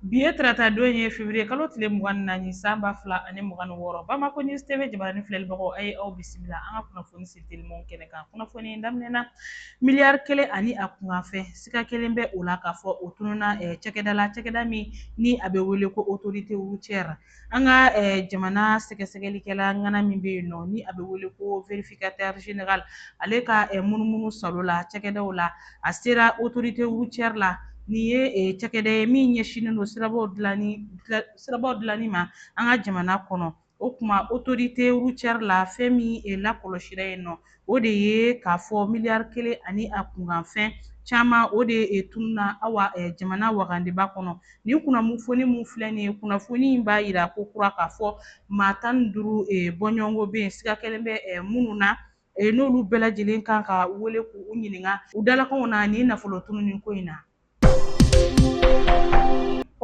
Bi ye tarata don ye feburuye kalo tile mugan ni naani san ba fila ani mugan ni wɔɔrɔ bamakɔ News TV jabaranin filɛlibagaw a ye aw bisimila an ka kunnafoni seteliman kɛnɛ kan kunnafoni daminɛ na miliyari kelen ani a kunkanfɛn siga kɛlen bɛ o la k'a fɔ o tununa cɛkɛda la cɛkɛda min ni a bɛ wele ko autorité routière An ka jamana sɛgɛsɛgɛlikɛla ŋana min bɛ yen nɔ ni a bɛ wele ko vérificateur général ale ka munumunusaalo la cakɛdaw la a sera autorité routière la nin ye cakɛda ye min ɲɛsinnen don sirabaw dilanni sirabaw dilanni ma an ka jamana kɔnɔ o tuma autorité routière la fɛn min lakɔlɔsira yen nɔ o de ye k'a fɔ miliyari kelen ani a kunkanfɛn caman o de tununa awa jamana wagandeba kɔnɔ nin kunnafoni min filɛ nin ye kunnafoni in b'a yira ko kura k'a fɔ maa tan ni duuru bɔɲɔgɔnko bɛ yen siga kɛlen bɛ minnu na n'olu bɛɛ lajɛlen kan ka wele k'u ɲininka u dalakanw na nin nafolo tununi ko in na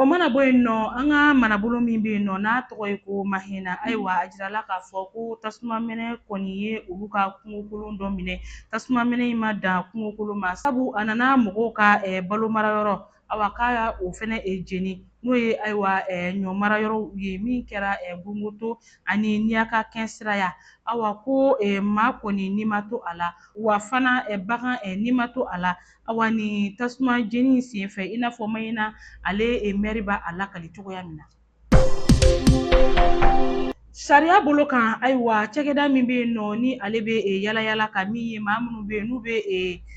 O mana bɔ yen nɔ an ka marabolo min bɛ yen nɔ n'a tɔgɔ ye ko mahina ayiwa a jirala k'a fɔ ko tasuma mɛnɛ kɔni ye olu ka kungokolon dɔ minɛ tasuma mɛnɛ in ma dan kungokolon ma sabu a nana mɔgɔw ka balo mara yɔrɔ awa k'a o fɛnɛ jeni n'o ye ayiwa ɲɔ mara yɔrɔw ye min kɛra gongoto ani niyaka kɛn siraya awa ko maa kɔni ni ma to a la wa fana bagan ni ma to a la Awa ni tasuma jeni in sen fɛ i n'a fɔ mahina ale mɛri b'a lakali cogoya min na sariya bolo kan ayiwa cɛkɛda min bɛ yen nɔ ni ale bɛ yala yala ka min ye maa minnu bɛ yen n'u bɛ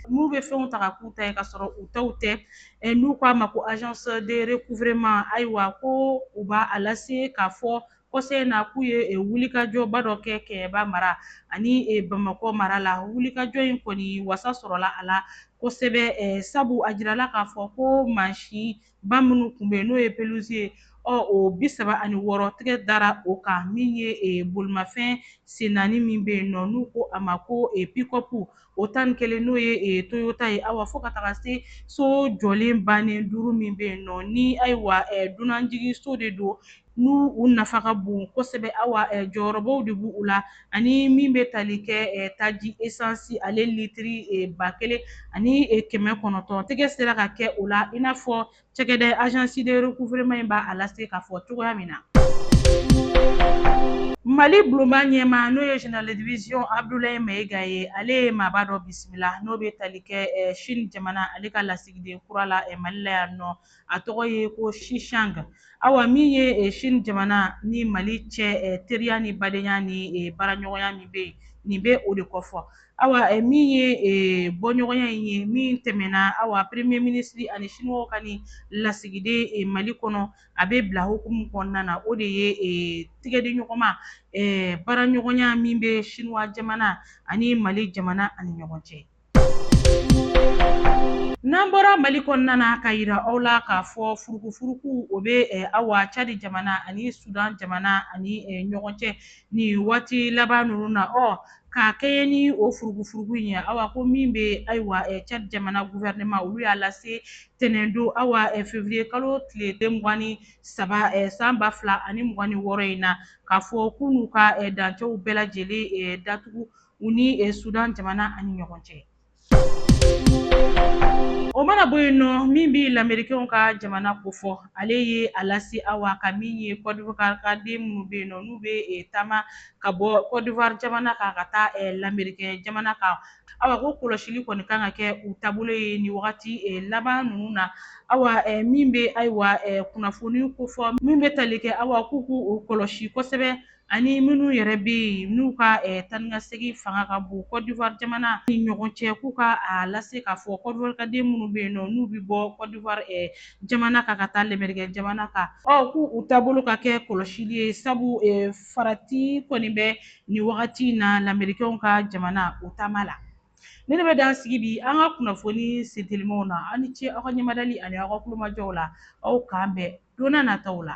n'u bɛ fɛnw ta ka k'u ta ye ka sɔrɔ u taw tɛ n'u k'a ma ko agence de recouvrement ayiwa ko u b'a lase k'a fɔ kɔsa in na k'u ye wulikajɔba dɔ kɛ Kɛɲɛba mara ani Bamakɔ mara la. Wulikajɔ in kɔni wasa sɔrɔla a la kosɛbɛ sabu a jirala k'a fɔ ko mansinba minnu tun bɛ yen n'o ye peluzi ye, ɔ o bi saba ani wɔɔrɔ tigɛ dara o kan min ye bolimafɛn sen naani min bɛ yen nɔ n'u ko a ma ko pikɔpu, o tan ni kelen n'o ye toyota ye, awa fo ka taga se so jɔlen bannen duuru min bɛ yen nɔ ni ayiwa dunanjiginso de don n'u u nafa ka bon kosɛbɛ awa jɔyɔrɔbaw de b'u la ani min bɛ tali kɛ taji esansi ale litiri ba kelen ani kɛmɛ kɔnɔntɔn tɛgɛ sera ka kɛ o la i n'a fɔ cɛkɛda agence de recouvrement in b'a lase k'a fɔ cogoya min na mali bulonba ɲɛmaa n'o ye général de division abudulayi mayiga ye ale ye maaba dɔ bisimila n'o bɛ tali kɛ sini jamana ale ka lasigiden kura la mali la yan nɔ a tɔgɔ ye ko sisang awa min ye eh, sini jamana ni mali cɛ eh, teriya ni badenya ni eh, baaraɲɔgɔnya min bɛ yen nin bɛ o de kofɔ awa min ye bɔɲɔgɔnya in ye min tɛmɛna awa premier ministre ani siniwaw ka ni lasigiden mali kɔnɔ a bɛ bila hukumu kɔnɔna na o de ye tigɛdiɲɔgɔnma baaraɲɔgɔnya min bɛ siniwa jamana ani mali jamana ani ɲɔgɔn cɛ N'an bɔra mali kɔnɔna na ka yira aw la k'a fɔ furukufuruku o bɛ awa cadi jamana ani sudan jamana ani ɲɔgɔn cɛ nin waati laban ninnu na ɔ k'a kɛɲɛ ni o furukufuruku in ye awa ko min bɛ ayiwa cadi jamana gouvernement olu y'a lase ntɛnɛndon awa février kalo tile eh, mugan ni saba san ba fila ani mugan ni wɔɔrɔ in na k'a fɔ k'u n'u ka dancɛw bɛɛ lajɛlen datugu u ni eh, Sudan jamana ani ɲɔgɔn cɛ. O mana bɔ yen nɔ min bɛ lamerikɛnw ka jamana kofɔ ale ye a lase awa ka min ye kɔdiwari ka den minnu bɛ yen nɔ n'u bɛ eh, taama ka bɔ kɔdiwari jamana kan ka taa eh, lamerikɛn jamana kan awa ko kɔlɔsili kɔni kan ka kɛ u taabolo ye nin wagati eh, laban ninnu na awa min bɛ ayiwa kunnafoni kofɔ min bɛ tali kɛ awa k'u k'u kɔlɔsi kosɛbɛ ani minnu yɛrɛ bɛ yen n'u ka taa ni ka segin fanga ka bon kɔdiwari jamana ni ɲɔgɔn cɛ k'u ka a lase k'a fɔ kɔdiwari ka den minnu bɛ yen nɔ n'u bɛ bɔ kɔdiwari jamana kan ka taa lamerikɛn jamana kan ɔ k'u u taabolo ka kɛ kɔlɔsili ye sabu farati kɔni bɛ nin wagati in na lamerikɛnw ka jamana u taama la nin de bɛ dan sigi bi an ka kunnafoni sentelimaw na aw ni ce aw ka ɲɛmadali ani aw ka kulomajɔw la aw k'an bɛn donna nata la